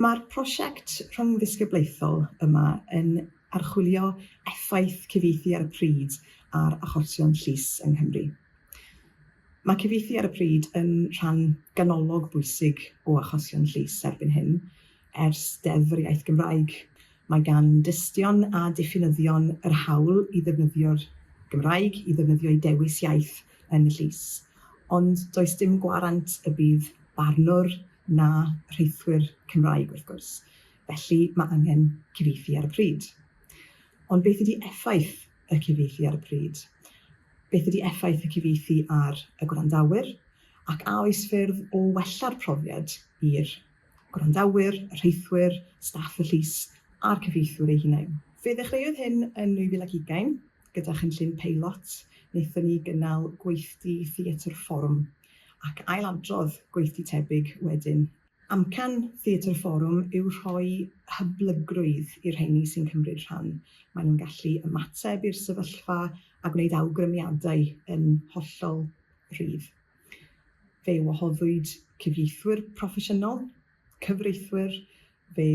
Mae'r prosiect rhyngddisgyblaethol yma yn archwilio effaith cyfieithu ar y pryd ar achosion llys yng Nghymru. Mae cyfieithu ar y pryd yn rhan ganolog bwysig o achosion llys erbyn hyn, ers Deddf yr Iaith Gymraeg. Mae gan dystion a diffinyddion yr hawl i ddefnyddio'r Gymraeg i ddefnyddio'u dewis iaith yn y llys, ond does dim gwarant y bydd barnwr, na rheithwyr Cymraeg wrth gwrs, felly mae angen cyfieithu ar y pryd. Ond beth ydy effaith y cyfieithu ar y pryd? Beth ydy effaith y cyfieithu ar y gwrandawyr? Ac a oes ffyrdd o wella'r profiad i'r gwrandawyr, y rheithwyr, staff y llys a'r cyfieithwyr eu hunain? Fe ddechreuodd hyn yn 2020. Gyda chynllun peilot, wnaethon ni gynnal gweithdy Theatr Fforwm, ac ail-adrodd gweithdy tebyg wedyn. Amcan Theatr Fforwm yw rhoi hyblygrwydd i'r rheini sy'n cymryd rhan. Maen nhw'n gallu ymateb i'r sefyllfa a gwneud awgrymiadau yn hollol rhydd. Fe wahoddwyd cyfieithwyr proffesiynol, cyfreithwyr, fe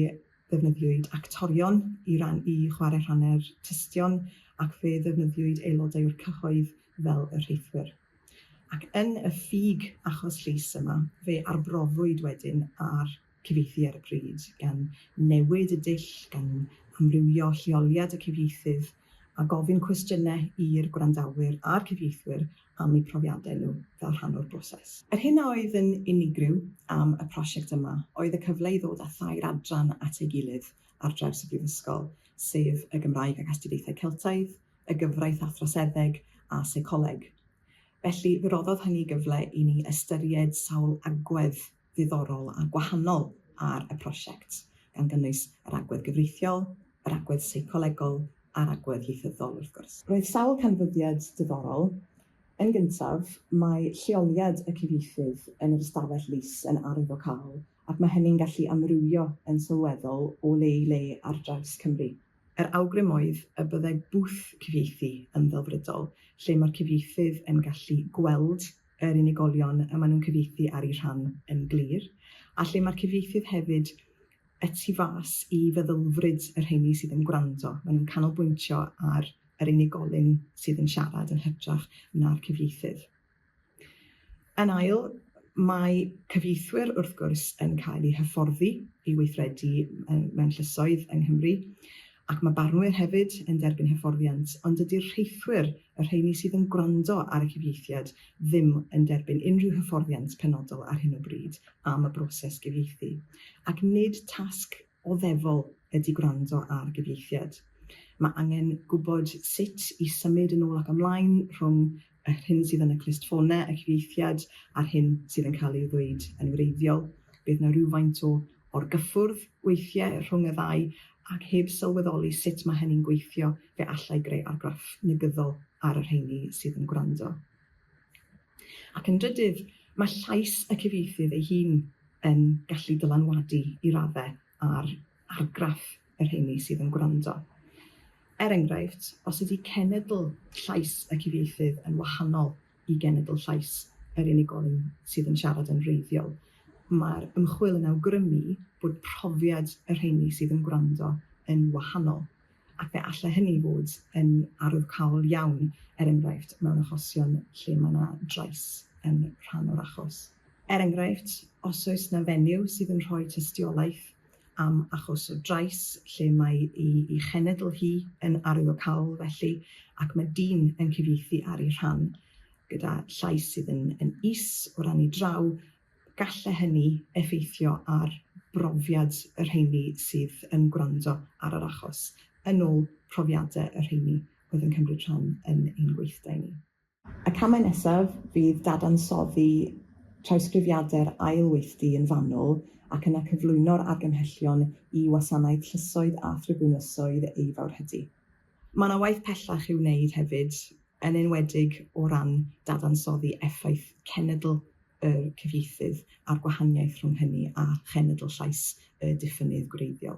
ddefnyddiwyd actorion i ran i chwarae rhannau'r tystion ac fe ddefnyddiwyd aelodau o'r cyhoedd fel y rheithwyr. Ac yn y ffug achos llys yma, fe arbrofwyd wedyn ar cyfieithu ar y pryd, gan newid y dull, gan amrywio lleoliad y cyfieithydd, a gofyn cwestiynau i'r gwrandawyr a'r cyfieithwyr am eu profiadau nhw fel rhan o'r broses. Yr hyn a oedd yn unigryw am y prosiect yma oedd y cyfle i ddod â thair adran at ei gilydd ar draws y Brifysgol, sef y Gymraeg ac Astudiaethau Celtaidd, y Gyfraith a Throseddeg a Seicoleg. Felly, fe roddodd hynny gyfle i ni ystyried sawl agwedd ddiddorol a gwahanol ar y prosiect, gan gynnwys yr agwedd gyfreithiol, yr agwedd seicolegol a'r agwedd ieithyddol, wrth gwrs. Roedd sawl canfyddiad diddorol. Yn gyntaf, mae lleoliad y cyfieithydd yn yr ystafell lys yn arwyddocaol ac mae hynny'n gallu amrywio yn sylweddol o le i le ar draws Cymru. Yr awgrym oedd y byddai bwth cyfieithu yn ddelfrydol, lle mae'r cyfieithydd yn gallu gweld yr unigolion y maen nhw'n cyfieithu ar eu rhan yn glir, a lle mae'r cyfieithydd hefyd y tu fas i feddylfryd y rheini sydd yn gwrando. Maen nhw'n canolbwyntio ar yr unigolyn sydd yn siarad yn hytrach na'r cyfieithydd. Yn ail, mae cyfieithwyr wrth gwrs yn cael eu hyfforddi i weithredu mewn llysoedd yng Nghymru, Ac mae barnwyr hefyd yn derbyn hyfforddiant, ond dydy'r rheithwyr, y rheini sydd yn gwrando ar y cyfieithiad, ddim yn derbyn unrhyw hyfforddiant penodol ar hyn o bryd am y broses gyfieithu. Ac nid tasg oddefol ydy gwrando ar gyfieithiad. Mae angen gwybod sut i symud yn ôl ac ymlaen rhwng yr hyn sydd yn y clustffonau, y cyfieithiad a'r hyn sydd yn cael ei ddweud yn wreiddiol. Bydd 'na rywfaint o orgyffwrdd weithiau rhwng y ddau, ac heb sylweddoli sut mae hynny'n gweithio, fe allai greu argraff negyddol ar y rheini sydd yn gwrando. Ac yn drydydd, mae llais y cyfieithydd ei hun yn gallu dylanwadu i raddau ar argraff y rheiny sydd yn gwrando. Er enghraifft, os ydy cenedl llais y cyfieithydd yn wahanol i genedl llais yr unigolyn sydd yn siarad yn wreiddiol, mae'r ymchwil yn awgrymu bod profiad y rheiny sydd yn gwrando yn wahanol, ac fe allai hynny fod yn arwyddocaol iawn, er enghraifft, mewn achosion lle mae yna drais yn rhan o'r achos. Er enghraifft, os oes yna fenyw sydd yn rhoi tystiolaeth am achos o drais lle mae ei chenedl hi yn arwyddocaol felly ac mae dyn yn cyfieithu ar ei rhan gyda llais sydd yn, yn is o ran ei draw, galle hynny effeithio ar brofiad y rheini sydd yn gwrando ar yr achos, yn ôl profiadau y rheini oedd yn cymryd rhan yn ein gweithdai ni. Y camau nesaf fydd dadansoddi trawsgrifiadau'r ail weithdy yn fanwl ac yna cyflwyno'r argymhellion i wasanaeth llysoedd a thribwnlysoedd ei fawrhydi. Mae yna waith pellach i'w wneud hefyd, yn enwedig o ran dadansoddi effaith cenedl y cyfieithydd a'r gwahaniaeth rhwng hynny a chenedl llais y diffynnydd gwreiddiol.